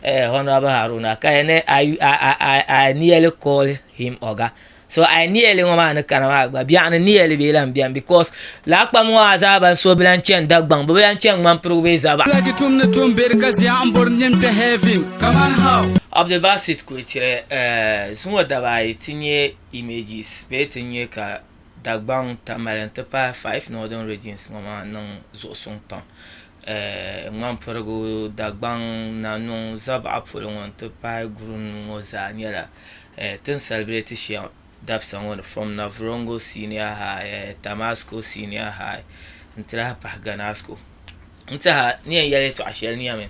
Uh, Honorable Haruna, kaya ne, I, I, I, I nearly call him Oga. So I nearly ŋɔ maa ni kana maa gba biɛɣu ni nearly bee lan biɛni because laakpam ŋɔ a zaa ban so bi lan chɛn Dagbaŋ bi bi lan chɛn ŋman pirigu bee zaba. Lagi tum ni tum beri ka zia n bori nin kpɛ heaven kaman how. Abdulbasit Kulichire, uh, zuŋɔ daba ayi ti nyɛ images bee ti nyɛ ka Dagbaŋ, Tamale n-ti pahi Five Northern Regions ŋɔ maa niŋ zuɣusuŋ pam. Ŋmanpirigu, Dagbaŋ, Nanɔŋ, Zabaɣa polo ŋɔ n-ti pahi Gurum ŋɔ zaa nyɛla tin salibreti shɛm dabisa ŋɔ ni from Navrongo Senior High, Tamasco Senior High n-ti lahi pahi Ganasco. N tiɛha ni yɛn yɛli yɛtɔɣa shɛli niya mi.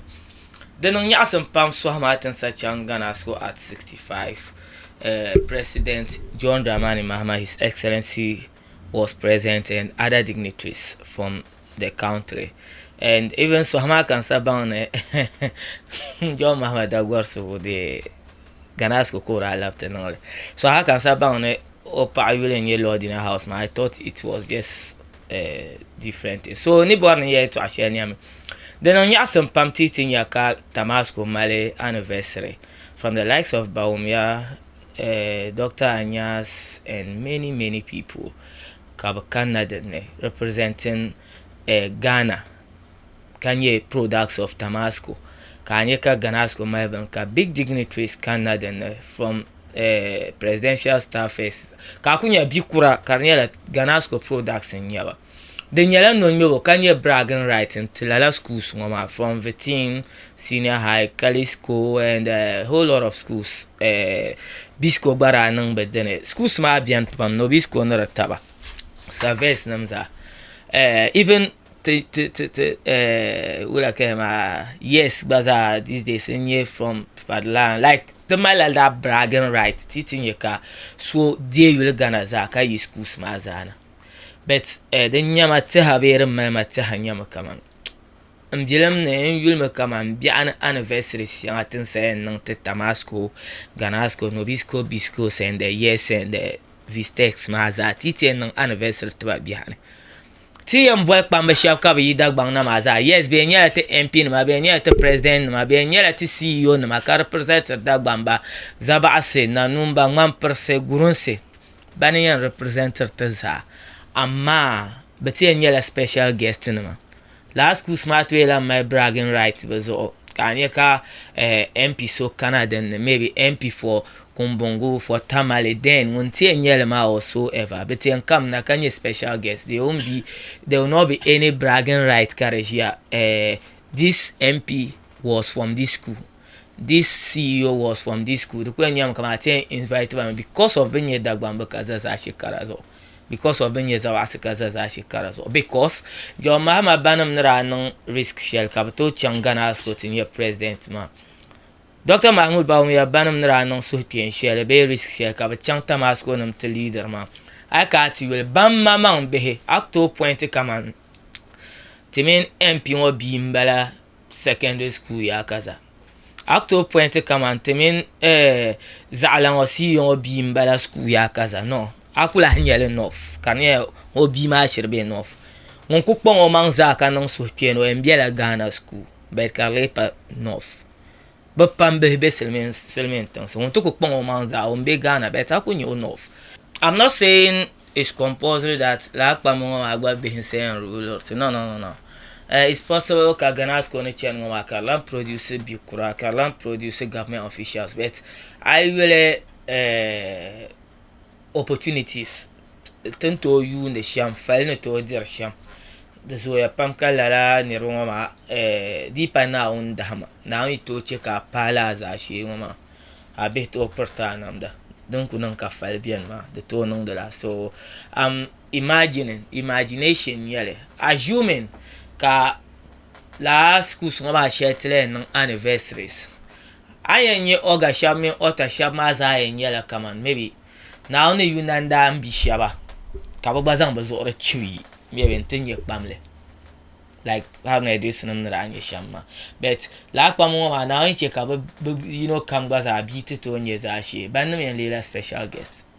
Di niŋ nyaɣisim pam sɔhi maa ti ni sa chaŋ Ghana so at 65. Eh, President John Dramani Mahama, His Excellency was present and other dignitaries from the country. And even sɔhi maa ka n sa baŋ ni John Mahama Dagɔri subu deei Ghana so ka o daa labiti niŋ li. Sɔhi maa ka n sa baŋ ni o paɣa yuli n-nyɛ Lordina House maa, I thought it was just a different thing. So ni bɔri ni yɛltɔɣa shɛli niɛmi. Di niŋ nyaɣisim pam ti yi ti nya ka Tamasco mali anniversary from the likes of Bawumia, eh, Doctor Anyas and many, many people ka bɛ kanna din ni representing eh, Ghana. ka nyɛ products of Tamasco ka a nyɛ ka Ganasco mali bini ka big dignitaries kanna din ni from eh, presidential staffers ka a ku nyɛ bi kura ka di nyɛla Ganasco products n nyɛba di nyɛla nonyobo ka nyɛ bragging right n ti lala schools ŋɔ maa from Vitin senior high Kalisco and eh, whole lot of schools eh, Bisco gba daa niŋ bi dini schools maa bɛni pam ni Obisco ni di taba surveys nim zaa eh, even Ti ti ti ti eh, wula kaya maa yes gba zaa these days n nyɛ from fadlan like ti malila that bragging right ti ti nyɛ ka so deei yuli gana zaa ka yi schools maa zaa na but eh, din nyɛma tiha bee din malima tiha nyɛmi kaman n bilim ni n yulimi kaman biɛɣu ni anniversary shɛŋa tin sayan niŋ ti tamasco ganasco nobisco bisco sɛnde yes sɛnde vistex maa zaa ti ti yɛn niŋ anniversary tiba biɛha ni Ti yɛn boli kpamba shɛba ka bɛ yi Dagbaŋ na maa zaa, yes, bɛ yɛn nyɛla ti MP nima, bɛ yɛn nyɛla ti President nima, bɛ yɛn nyɛla ti CEO nima ka representiri Dagbamba, Zabaɣisi, Nanumba, Ŋmanpirisi, Gurunsi, bani yɛn representiri ti zaa, amaa bɛ ti yɛn nyɛla special guest nima. Lala schools maa tooi lahi mali bragging rights bɛ zuɣu ka a nya ka MP so kana dinni, maybe MP for Kumbungu for Tamale then ŋun ti yɛn nyɛli maa or so ever bi ti yɛn kam na ka nyɛ special guest they won't be there will not be any bragging right ka di ʒiya eh, this MP was from this school this CEO was from this school di ku yɛn nyɛmi kamani a ti yɛn invite ba mi because of bi ni nyɛ Dagbamb ka za Zaashee kara zuɣu because of bi ni nyɛ Zawaɣisi ka za Zaashee kara zuɣu because John Mahama banim ni daa niŋ risk shɛli ka bi tooi chaŋ Ghana High School ti nyɛ president maa Dɔkta Mahmoud Bawumia ya banim ni daa niŋ suhukpeeni shɛli bee risk shɛli ka bɛ chaŋ Tamasconim ti leader maa, a yi ka a ti yuli, ban ma maŋ bihi, a ku tooi pointi kaman ti mini MP ŋɔ bia m-bala secondary school yaa kaza, a ku tooi pointi kaman ti mini eh Zaɣila ŋɔ CEO ŋɔ bia m-bala school yaa kaza, no, a ku lahi nya li enough ka di nyɛla ni o bia maa shiri be enough. Ŋun ku kpaŋ o maŋ zaa ka niŋ suhukpeeni o yɛn bela Ghana school but ka di lee pa enough. bɛ pam bihi be silimiin tiŋsi ŋun ti kuli kpaŋ o maŋ zaa o ni be Ghana bɛ taa kuli nya o north am not saying it's compulsory that lala kpamba ŋɔ maa gba bihi n saying rulers no no no it's possible ka Ghana school ni chani ŋɔ maa ka di lahi produce bi'kura ka di lahi produce government officials but a yi yuli. opportunities ti ni tooi yuundi shɛm fali ni tooi diri shɛm di zooya pam ka lala niraba ŋo maa di yi pa naawuni dahama naawuni yi tooi chɛ ka a paai laa zaashee ŋo maa a bihi tooi piriti a namda din ku niŋ ka fali biɛni maa di tooi niŋdila so am imagining imagination n nyɛli assuming ka laa schools ŋo maa shɛli ti lahi niŋ anniversaries A yɛn nyɛ Oga shɛba mini Ɔta shɛba maa zaa yɛn nyɛla kamani maybe Naawuni yuna n-daa bi shɛba ka bɛ gba zaŋ bɛ zuɣuri chibi yi maybe n-ti nyɛ kpam li like Agunadosunima ni daa nyɛ shɛm maa but lala kpamba ŋɔ maa Naawuni chɛ ka bɛ yino kam gba zaa bia ti tooi nyɛ zaashee. Bannim yɛn leela special guest.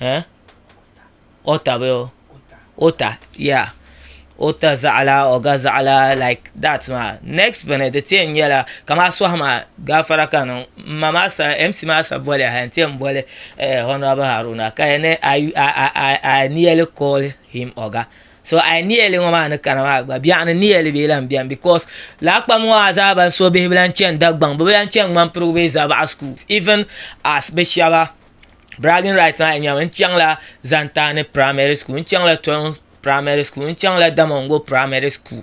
eh ɔta bee ɔta yeah ɔta zaɣila ɔga zaɣila like that maa next bini di ti yɛn nyɛla kamani a suahu maa gaafara ka n niŋ m ma maa sani MC maa sani boli yaha n ti yɛn boli honourable Haruna ka yɛli ni I nearly call him ɔga so I nearly ŋɔ maa ni kana maa gba biɛɣu ni nearly bee lahi bɛni because laakpam ŋɔ maa zaa ban suhi bihi bi lahi chani Dagbaŋ bi bi lahi chani Ŋmanpirigu bee Zabaɣa school even as bi shɛba bragging rights maa nyɛla n chaŋla Zantani primary school n chaŋla Tɔriŋ primary school n chaŋla Damongo primary school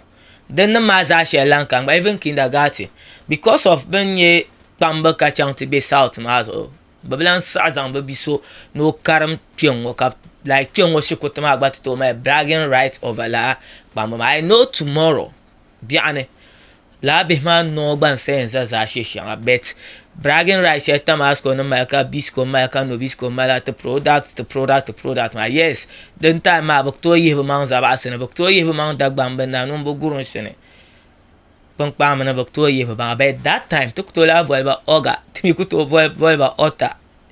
din nim maa zaa shɛli lahi ka n gba even kindergarten because of bi ni nyɛ kpamba ka chɛŋ ti bɛ south maa zuɣu bi bi lahi saɣi zaŋ bi bia so ni o karim kpɛŋŋo ka like kpɛŋŋo shikuruti maa gba ti tooi mali bragging rights over laa kpamba maa I know tomorrow biɛɣu ni. Lala bihi maa noo gba n sayin za zaashee shɛŋa but bragging rights shɛli Tamasco ni mali ka Bisco mali ka Nobisco mali la ti product ti product ti product maa yes din time maa bi ku tooi yihi bi maŋ zabaɣasi ni bi ku tooi yihi bi maŋ Dagbamb ni Nanum bi Gurunsi ni kpinkpam ni bi ku tooi yihi bi maŋa but that time ti ku tooi lahi boliba Oga ti mi ku tooi boliba Ɔta.